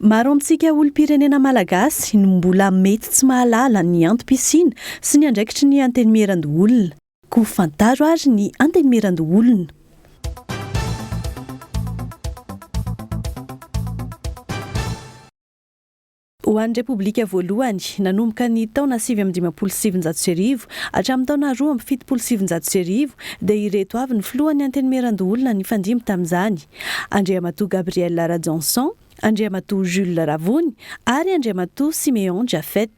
Maro amintsika olom-pirenena malagasy no mbola mety tsy mahalala ny antom-pisiana sy ny andraikitry ny antenimieran-doholona. Koa fantaro ary ny antenimieran-doholona. Ho an'ny Repoblika voalohany, nanomboka ny taona sivy amby dimampolo sy sivinjato sy arivo hatramin'ny taona roa amby fitopolo sy sivinjato sy arivo dia ireto avy ny filohan'ny antenimieran-doholona nifandimby tamin'izany, Andriamatoa Gabriel Rajaonson, Andriamatoa Jules Ravony ary Andriamatoa Siméon Japhet.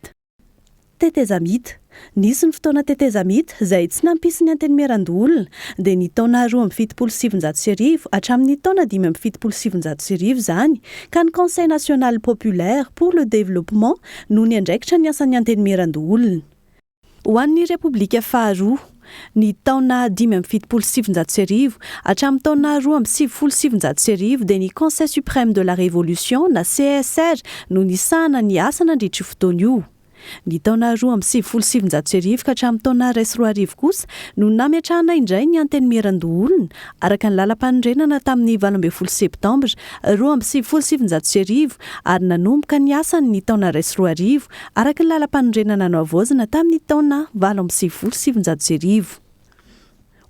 Tetezamita. Nisy ny fotoana tetezamita izay tsy nampisy ny antenimieran-doholona dia ny taona roa amby fitopolo sy sivinjato sy arivo hatramin'ny taona dimy amby fitopolo sy sivinjato sy arivo izany ka ny Conseil National Populaire pour le Développement no niandraikitra ny asan'ny antenimieran-doholona ho an'ny Repoblika faharoa. ny taona dimy amby fitopolo sy sivinjato sy arivo hatramin'ny taona roa amby sivifolo sy sivinjato sy arivo dia ny Conseil Suprême de la Révolution na CSR no nisahana ny asa nandritra io fotoana io. Ny taona roa amby sivifolo sy sivinjato sy arivo ka hatramin'ny taona iray sy roa arivo kosa no nametrahana indray ny Antenimierandoholona araka ny lalampanorenana tamin'ny valo ambin'ny folo septambra roa amby sivifolo sy sivinjato sy arivo ary nanomboka ny asany ny taona iray sy roa arivo araka ny lalampanorenana nohavaozina tamin'ny taona valo amby sivifolo sy sivinjato sy arivo.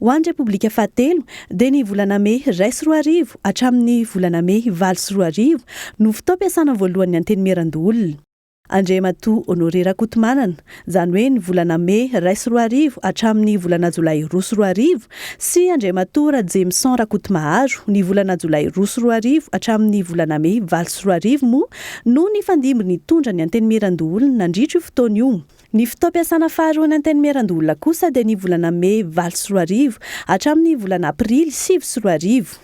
Ho an'ny Repoblika fahatelo dia ny volana mey iray sy roa arivo hatramin'ny volana mey valo sy roa arivo no fotoam-piasana voalohan'ny Antenimierandoholona. Andriamatoa Honoré Rakotomanana, izany hoe ny volana mey iray sy roa arivo hatramin'ny volana jolay roa sy roa arivo sy Andriamatoa Rajemison Rakotomaharo, ny volana jolay roa sy roa arivo hatramin'ny volana mey valo sy roa arivo moa no nifandimby nitondra ny Antenimierandoholona nandritra io fotoana io. Ny fotoam-piasana faharoan'ny Antenimierandoholona kosa dia ny volana mey valo sy roa arivo hatramin'ny volana aprily sivy sy roa arivo.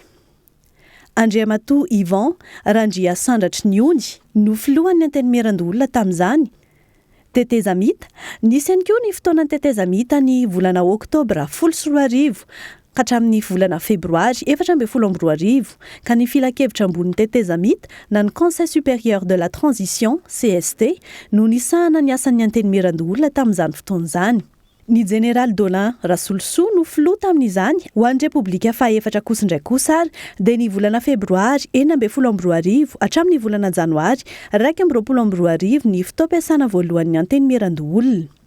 Andriamatoa Yvan Randriasandratry ny ony no filohan'ny Antenimierandoholona tamin'izany. Tetezamita, Nisy ihany koa ny fotoanan'ny tetezamita ny volana oktobra folo sy roa arivo ka hatramin'ny volana febroary efatra ambin'ny folo amby roa arivo, ka ny Filankevitra Ambonin'ny Tetezamita na ny Conseil Supérieur de la Transition, cst, no nisahana ny asan'ny Antenimierandoholona tamin'izany fotoana izany. Ny Jeneraly Dolin Rasolosoa no filoha tamin'izany ho an'ny Repoblika fahefatra kosa indray kosa ary dia ny volana febroary enina ambin'ny folo amby roa arivo hatramin'ny volana janoary iraika amby roapolo amby roa arivo ny fotoam-piasana voalohan'ny Antenimierandoholona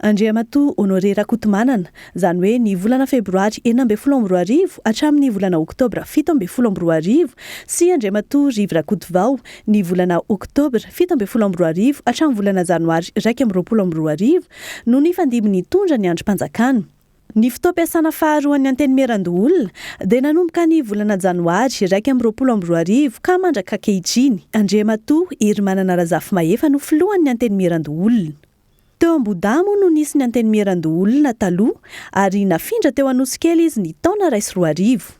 Andriamatoa Honoré Rakotomanana, izany hoe ny volana febroary enina ambin'ny folo amby roa arivo hatramin'ny volana oktobra fito ambin'ny folo amby roa arivo sy Andriamatoa Rivo Rakotovao, Ny volana Oktobra fito ambin'ny folo amby roa arivo hatramin'ny volana Janoary iraika amby roapolo amby roa arivo no nifandimby nitondra ny andrim-panjakana. Ny fotoam-piasana faharoan'ny Antenimierandoholona dia nanomboka ny volana Janoary iraika amby roapolo amby roa arivo ka mandrak'ankehitriny Andriamatoa Herimanana Razafimahefa no filohan'ny Antenimierandoholona. Teo Ambohidahy moa no nisy ny Antenimierandoholona taloha ary nafindra teo Anosikely izy ny taona iray sy roa arivo.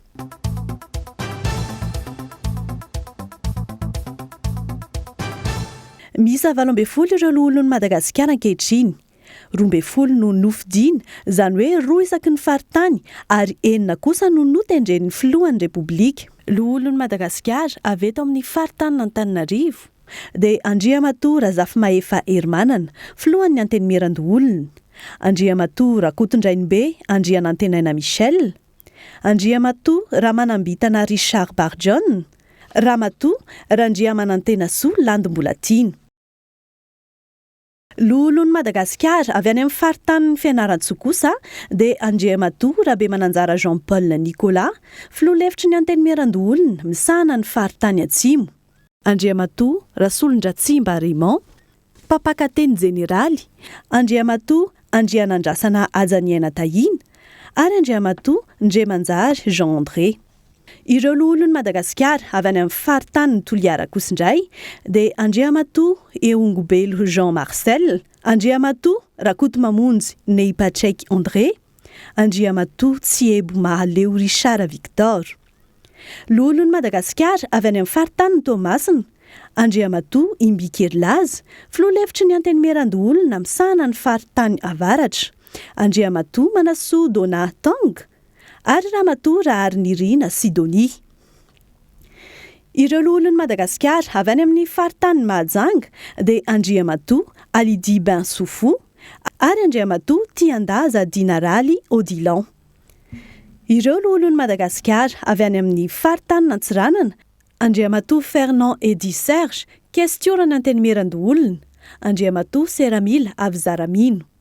Miisa valo ambin'ny folo ireo Loholon'i Madagasikara ankehitriny. Roa ambin'ny folo no nofidina, izany hoe roa isaky ny faritany ary enina kosa no notendren'ny Filohan'ny Repoblika. Loholon'i Madagasikara avy eto amin'ny faritanin'Antananarivo. dia Andriamatoa Razafimahefa Herimanana, Filohan'ny Antenimierandoholona, Andriamatoa Rakotondrainibe Andrianantenaina Michel, Andriamatoa Ramanambitana Richard Barijohn, Ramatoa Randriamanantenasoa Landy Mbolatiana. Loholon'i Madagasikara avy any amin'ny faritanin'i Fianarantsoa kosa dia Andriamatoa Rabemananjara Jean Paul Nicolas, Filoha lefitry ny Antenimierandoholona misahana ny faritany Atsimo, Andriamatoa Rasolondratsimba Raymond, Mpampakateny Jeneraly, Andriamatoa Andrianandrasana Hajaniaina Tahiana ary Andriamatoa Ndriamanjary Jean André. Ireo loholon'i Madagasikara avy any amin'ny faritanin'i Toliara kosa indray dia Andriamatoa Ehongobelo Jean Marcel, Andriamatoa Rakotomamonjy Nehipatraiky André, Andriamatoa Tsihebo Mahaleo Richard Victor. Loholon'i Madagasikara avy any amin'ny faritanin'i Toamasina, Andriamatoa Imbikely Laza, Filoha lefitry ny Antenimierandoholona misahana ny faritany avaratra, Andriamatoa Manassoa Donat Tanga, Ary Ramatoa Raharinirina Sidonie. Ireo loholon'i Madagasikara avy any amin'ny faritanin'i Mahajanga dia Andriamatoa Alidi Ben Soufou ary Andriamatoa Tiandaza Dinaraly Odilon. Ireo loholon'i Madagasikara avy any amin'ny faritanin'Antsiranana, Andriamatoa Fernand Eddy Serge, Kestioran'Antenimierandoholona, Andriamatoa Seramila Avizaramino.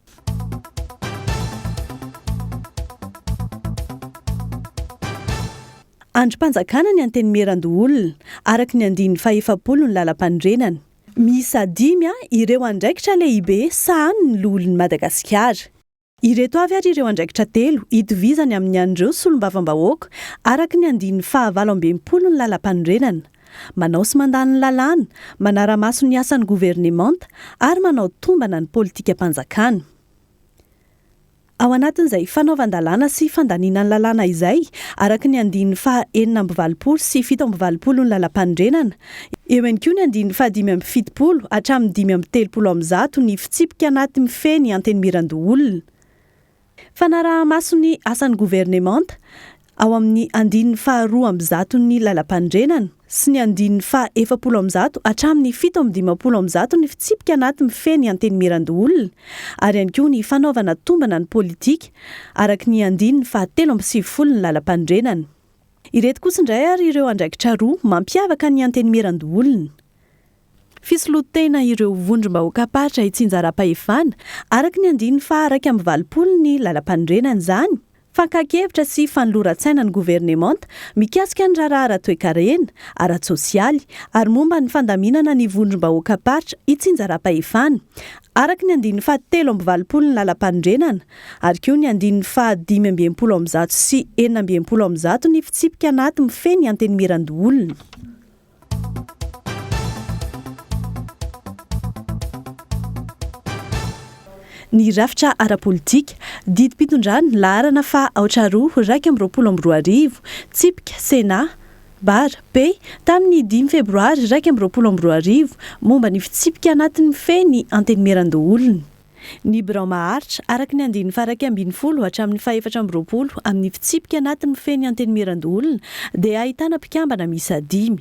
Andrim-panjakana ny Antenimierandoholona, araka ny andininy fahefapolo ny Lalampanorenana. Miisa dimy ireo andraikitra lehibe sahanin'ny Loholon'i Madagasikara. Ireto avy ary ireo andraikitra telo itovizany amin'ny an'ireo Solombavambahoaka, araka ny andininy fahavalo amby enimpolo ny Lalampanorenana. manao sy mandany ny lalàna, manara-maso ny asan'ny governemanta ary manao tombana ny politikam-panjakana. Ao anatin'izay fanaovan-dalàna sy fandaniana ny lalàna izay, araka ny andininy faha enina amby valopolo sy fito amby valopolo ny Lalampanorenana, eo ihany koa ny andininy faha dimy amby fitopolo hatramin'ny dimy amby telopolo amin'ny zato ny fitsipika anaty mifehy ny antenimieran-doholona. Fanaraha-maso ny asan'ny governemanta ao amin'ny andininy faha roa amby zato ny Lalampanorenana sy ny andininy faha efapolo amby zato hatramin'ny fito amby dimampolo amby zato ny fitsipika anaty mifehy ny Antenimierandoholona ary ihany koa ny fanaovana tombana ny politika araka ny andininy faha telo amby sivifolo ny Lalampanorenana. Ireto kosa indray ary ireo andraikitra roa mampiavaka ny Antenimierandoholona. Fisoloan-tena ireo vondrom-bahoakam-paritra itsinjaram-pahefana, araka ny andininy faha iraika amby valopolo ny Lalampanorenana izany, fakan-kevitra sy fanoloran-tsaina ny governemanta mikasika ny raharaha ara-toekarena, ara-tsosialy ary momba ny fandaminana ny vondrom-bahoakam-paritra itsinjaram-pahefana, araka ny andininy faha telo amby valopolo ny Lalampanorenana, ary koa ny andininy faha dimy amby enimpolo amby zato sy enina amby enimpolo amby zato ny fitsipika anaty mifehy ny antenimieran-doholona. ny rafitra ara-politika, didim-pitondrana, laharana faha aotra roa iraika amby roapolo amby roa arivo, tsipika, Sena, Bar, P, tamin'ny dimy Febroary iraika amby roapolo amby roa arivo, momba ny fitsipika anatin'ny fe ny Antenimierandoholona. Ny birao maharitra, araka ny andininy faharaika ambin'ny folo hatramin'ny fahefatra amby roapolo amin'ny fitsipika anatiny mifehy ny Antenimierandoholona dia ahitana mpikambana miisa dimy.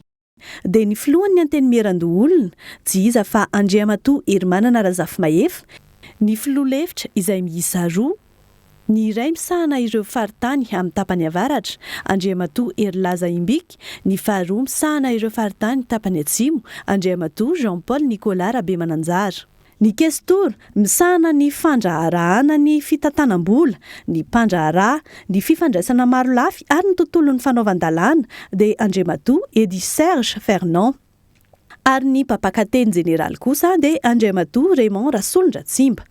Dia ny filohan'ny Antenimierandoholona, tsy iza fa Andriamatoa Herimanana Razafimahefa, ny filoha lefitra izay miisa roa, ny iray misahana ireo faritany amin'ny tapany avaratra, Andriamatoa Herilaza Imbika, ny faharoa misahana ireo faritany tapany atsimo, Andriamatoa Jean Paul Nicolas Rabemananjara. Ny Kestora, misahana ny fandraharahana ny fitantanam-bola, ny mpandraharaha, ny fifandraisana marolafy ary ny tontolon'ny fanaovan-dalàna, dia Andriamatoa Eddy Serge Fernand. Ary ny mpampakateny jeneraly kosa dia Andriamatoa Raymond Rasolondratsimba.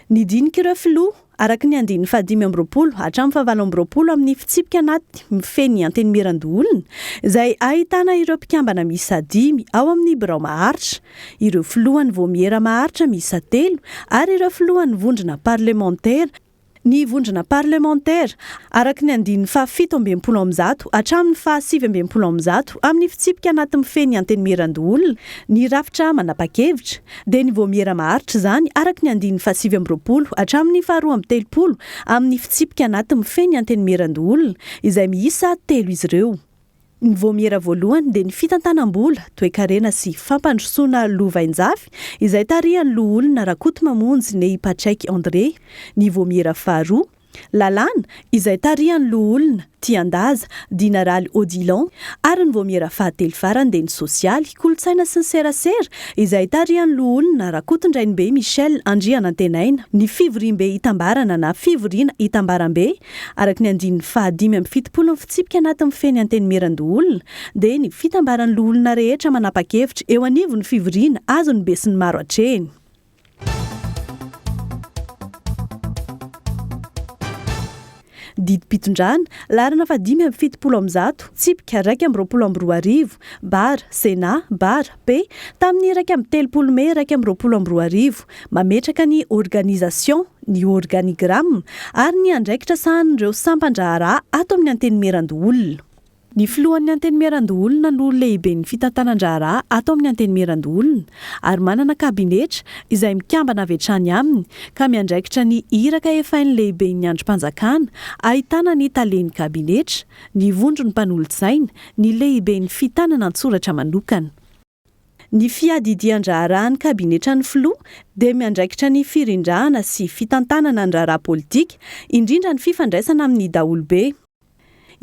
Ny dinik'ireo filoha, araka ny andininy fahadimy amby roapolo hatramin'ny fahavalo amby roapolo amin'ny fitsipika anaty mifehy ny Antenimierandoholona, izay ahitana ireo mpikambana miisa dimy ao amin'ny birao maharitra, ireo filohan'ny vaomiera maharitra miisa telo ary ireo filohan'ny vondrona parlemantera, ny vondrona parlemantera, araka ny andininy fahafito amby enimpolo amby zato hatramin'ny fahasivy amby enimpolo amby zato amin'ny fitsipika anaty mifehy ny Antenimierandoholona ny rafitra manapa-kevitra, dia ny vaomiera maharitra izany araka ny andininy fahasivy amby roapolo hatramin'ny faharoa amby telopolo amin'ny fitsipika anaty mifehy ny Antenimierandoholona, izay miisa telo izy ireo. Ny vaomiera voalohany dia ny fitantanam-bola, toekarena sy fampandrosoana lovainjafy izay tarihan'ny Loholona Rakotomamonjy Nehy Patrick André, ny vaomiera faharoa, lalàna, izay tarihan'ny Loholona Tiandaza Dina Raly Odilon ary ny vaomiera fahatelo farany dia ny sosialy, kolontsaina sy ny serasera izay tarihan'ny Loholona Rakotondrainibe Michel Andrianantenaina, ny fivoriambe itambarana na fivoriana itambarambe, Araka ny andininy fahadimy amby fitopolo ny fitsipika anaty mifehy ny Antenimierandoholona dia ny fitambaran'ny loholona rehetra manapa-kevitra eo anivon'ny fivoriana azon'ny besinimaro atrehina. Didim-pitondrana, laharana fahadimy amby fitopolo amby zato, tsipika iraika amby roapolo amby roa arivo, Bar, Sénat, Bar, AFP, tamin'ny iraika amby telopolo mey iraika amby roapolo amby roa arivo. Mametraka ny organisation, ny organigramme ary ny andraikitra sahanin'ireo sampan-draharaha ato amin'ny Antenimierandoholona. Ny filohan'ny Antenimierandoholona no lehiben'ny fitantanan-draharaha ato amin'ny Antenimierandoholona ary manana kabinetra izay mikambana avy hatrany aminy ka miandraikitra ny iraka efain'ny lehiben'ny andrim-panjakana ahitana ny talen'ny kabinetra, Ny vondron'ny mpanolotsaina, ny lehiben'ny fitanana an-tsoratra manokana. Ny fiadidian-draharahan'ny kabinetran'ny filoha dia miandraikitra ny firindrahana sy fitantanana ny raharaha politika, indrindra ny fifandraisana amin'ny daholobe.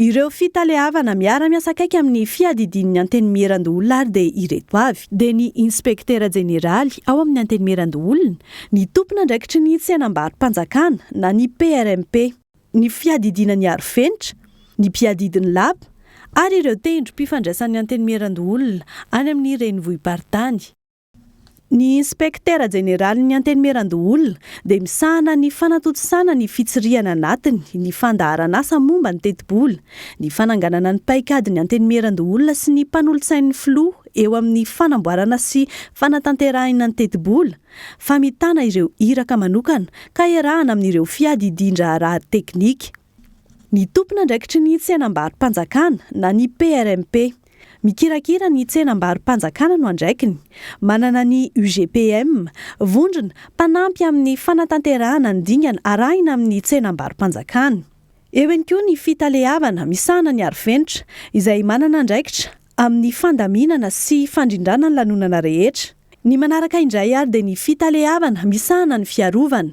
Ireo fitaleavana miara-miasa akaiky amin'ny fiadidian'ny Antenimierandoholona ary dia ireto avy. Dia ny Inspektera Jeneraly ao amin'ny Antenimierandoholona, ny tompon'andraikitry ny tsenam-barom-panjakana na ny PRMP. ny fiadidiana ny arofenitra, ny mpiadidy ny lapa ary ireo tendrom-pifandraisan'ny Antenimierandoholona any amin'ny renivohi-paritany. Ny Inspektera Jeneralin'ny Antenimierandoholona dia misahana ny fanatontosana ny fitsirihana anatiny, ny fandaharan'asa momba ny tetibola, ny fananganana ny paikadin'ny Antenimierandoholona sy ny mpanolotsain'ny Filoha eo amin'ny fanamboarana sy fanatanterahina ny tetibola, fa mitana ireo iraka manokana ka iarahana amin'ireo fiadidian-draharaha teknika. Ny tompon'andraikitry ny tsenambaro-panjakana na ny PRMP. Mikirakira ny tsenambaro-panjakana no andraikiny. Manana ny UGPM, vondrona, mpanampy amin'ny fanatanterahana ny dingana arahina amin'ny tsenambaro-panjakana. Eo ihany koa ny Fitaleavana misahana ny Arofenitra, izay manana andraikitra amin'ny fandaminana sy fandrindrana ny lanonana rehetra. Ny manaraka indray ary dia ny fitaleavana misahana ny fiarovana.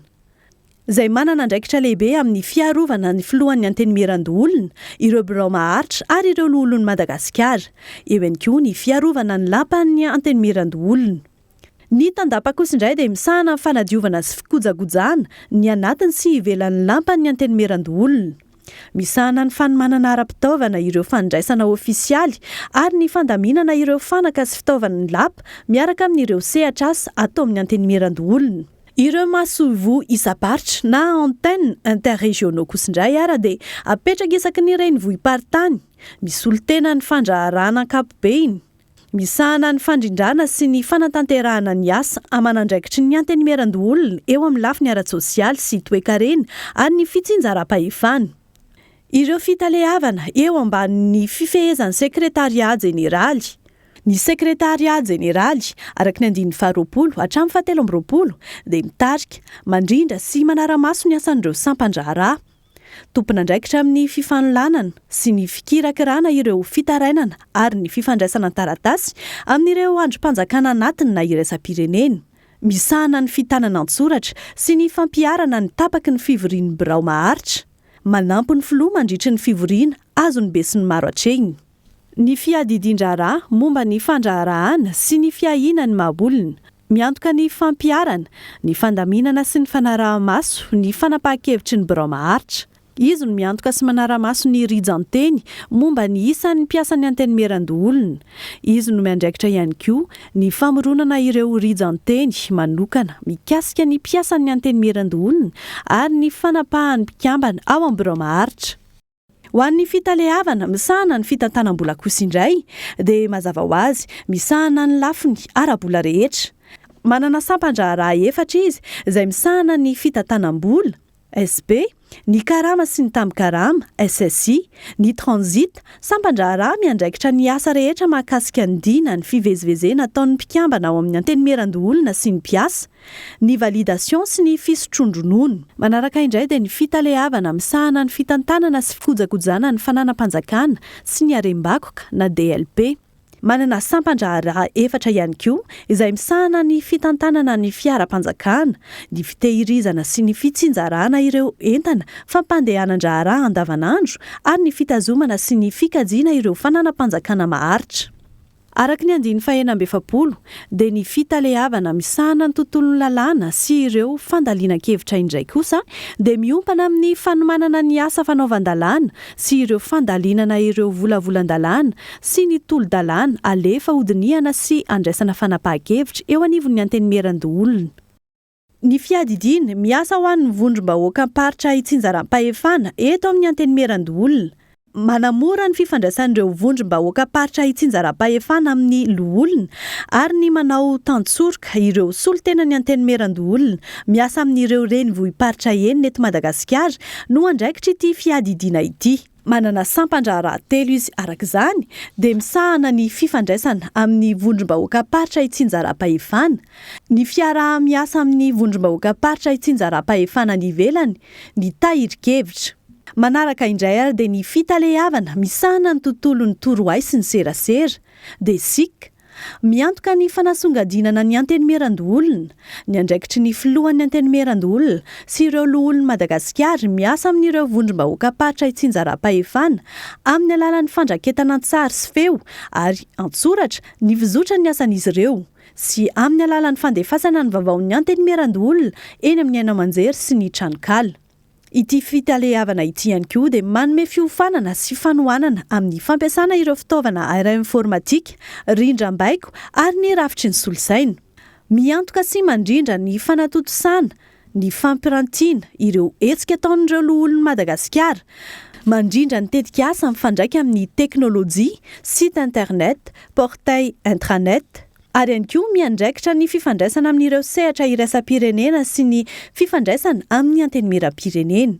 Izay manana andraikitra lehibe amin'ny fiarovana ny Filohan'ny Antenimierandoholona, ireo birao maharitra ary ireo Loholon'i Madagasikara. Eo ihany koa ny fiarovana ny Lapan'ny Antenimierandoholona. Ny tandapa kosa indray dia misahana amin'ny fanadiovana sy fikojagojana ny anatiny sy ivelan'ny lampan'ny Antenimierandoholona. Misahana ny fanomanana ara-pitaovana ireo fandraisana ofisialy ary ny fandaminana ireo fanaka sy fitaovan'ny lapa miaraka amin'ireo sehatr'asa ato amin'ny Antenimierandoholona. Ireo masoivoho isam-paritra na antennes interrégionaux kosa indray ara dia apetraka isaky ny renivohi-paritany, misolo tena ny fandraharahana ankapobeny, Misahana ny fandrindrana sy ny fanatanterahana ny asa aman'andraikitry ny Antenimierandoholona eo amin'ny lafiny ara-tsosialy sy toekarena ary ny fitsinjaram-pahefana ireo fitaleavana eo ambanin'ny fifehezan'ny Sekretarià Jeneraly. Ny Sekretarià Jeneraly, araka ny andininy faharoapolo hatramin'ny fahatelo amby roapolo, dia mitarika, mandrindra sy manara-maso ny asan'ireo sampan-draharaha, Tompon'andraikitra amin'ny fifanolanana sy ny fikirakirana ireo fitarainana ary ny fifandraisana an-taratasy amin'ireo andrim-panjakana anatiny na iraisam-pirenena. Misahana ny fitanana an-tsoratra sy ny fampiharana ny tapaky ny fivorian'ny birao maharitra. Manampy ny filoha mandritry ny fivoriana azon'ny besinimaro atrehina. ny fiadidian-draharaha momba ny fandraharahàna sy ny fiahiana ny maha-olona, miantoka ny fampiharana, ny fandaminana sy ny fanaraha-maso ny fanapahan-kevitry ny birao maharitra. Izy no miantoka sy manara-maso ny rijan-teny momba ny isan' ny mpiasan'ny Antenimierandoholona. Izy no miandraikitra ihany koa ny famoronana ireo rijan-teny manokana mikasika ny mpiasan'ny Antenimierandoholona ary ny fanapahan'ny mpikambana ao amin'ny birao maharitra. Ho an'ny fitaleavana misahana ny fitantanam-bola kosa indray dia mazava ho azy misahana ny lafiny ara-bola rehetra. Manana sampan-draharaha efatra izy izay misahana ny fitantanam-bola, SB, ny karama sy ny tambin-karama, SSI, ny transit, sampan-draharaha miandraikitra ny asa rehetra mahakasika ny dina ny fivezivezena ataon'ny mpikambana ao amin'ny Antenimierandoholona sy ny mpiasa, ny validation sy ny fisotroan-dronono. Manaraka indray dia ny fitaleavana misahana ny fitantanana sy fikojakojana ny fananam-panjakana sy ny harem-bakoka na DLP. Manana sampan-draharaha efatra ihany koa izay misahana ny fitantanana ny fiaram-panjakana, ny fitehirizana sy ny fitsinjarana ireo entana fampandehanan-draharaha andavanandro ary ny fitazomana sy ny fikajiana ireo fananam-panjakana maharitra. Araka ny andininy fahenina amby efapolo, dia ny fitaleavana misahana ny tontolon'ny lalàna sy ireo fandalinan-kevitra indray kosa dia miompana amin'ny fanomanana ny asa fanaovan-dalàna sy ireo fandalinana ireo volavolan-dalàna sy ny tolo-dalàna alefa hodinihana sy andraisana fanapahan-kevitra eo anivon'ny Antenimierandoholona. Ny fiadidiana, miasa ho an'ny vondrom-bahoakam-paritra itsinjaram-pahefana eto amin'ny Antenimierandoholona. Manamora ny fifandraisan'ireo vondrom-bahoakam-paritra itsinjaram-pahefana amin'ny loholona ary ny manao tantsoroka ireo solontenan'ny Antenimierandoholona miasa amin'ireo renivohi-paritra enina eto Madagasikara no andraikitr' ity fiadidiana ity. Manana sampan-draharaha telo izy, araka izany, dia misahana ny fifandraisana amin'ny vondrom-bahoakam-paritra itsinjaram-pahefana, ny fiaraha-miasa amin'ny vondrom-bahoakam-paritra itsinjaram-pahefana any ivelany, ny tahirin-kevitra. Manaraka indray ary dia ny fitaleavana misahana ny tontolon'ny torohay sy ny serasera, DSIC, Miantoka ny fanasongadinana ny Antenimierandoholona, ny andraikitry ny Filohan'ny Antenimierandoholona sy ireo Loholon'i Madagasikara miasa amin'ireo vondrom-bahoakam-paritra itsinjaram-pahefana amin'ny alalan'ny fandraketana an-tsary sy feo ary an-tsoratra ny fizotry ny asan'izy ireo sy amin'ny alalan'ny fandefasana ny vaovaon'ny Antenimierandoholona eny amin'ny haino aman-jery sy ny tranonkala. Ity fitaleavana ity ihany koa dia manome fiofanana sy fanohanana amin'ny fampiasana ireo fitaovana aerainfôrmatika, rindrambaiko ary ny rafitry ny solosaina. Miantoka sy mandrindra ny fanatontosana ny fampirantiana ireo hetsika ataon'ireo Loholon'i Madagasikara, mandrindra ny tetikasa mifandraika amin'ny teknolojia, site internet, portail intranet. ary ihany koa miandraikitra ny fifandraisana amin'ireo sehatra iraisam-pirenena sy ny fifandraisana amin'ny Antenimierampirenena.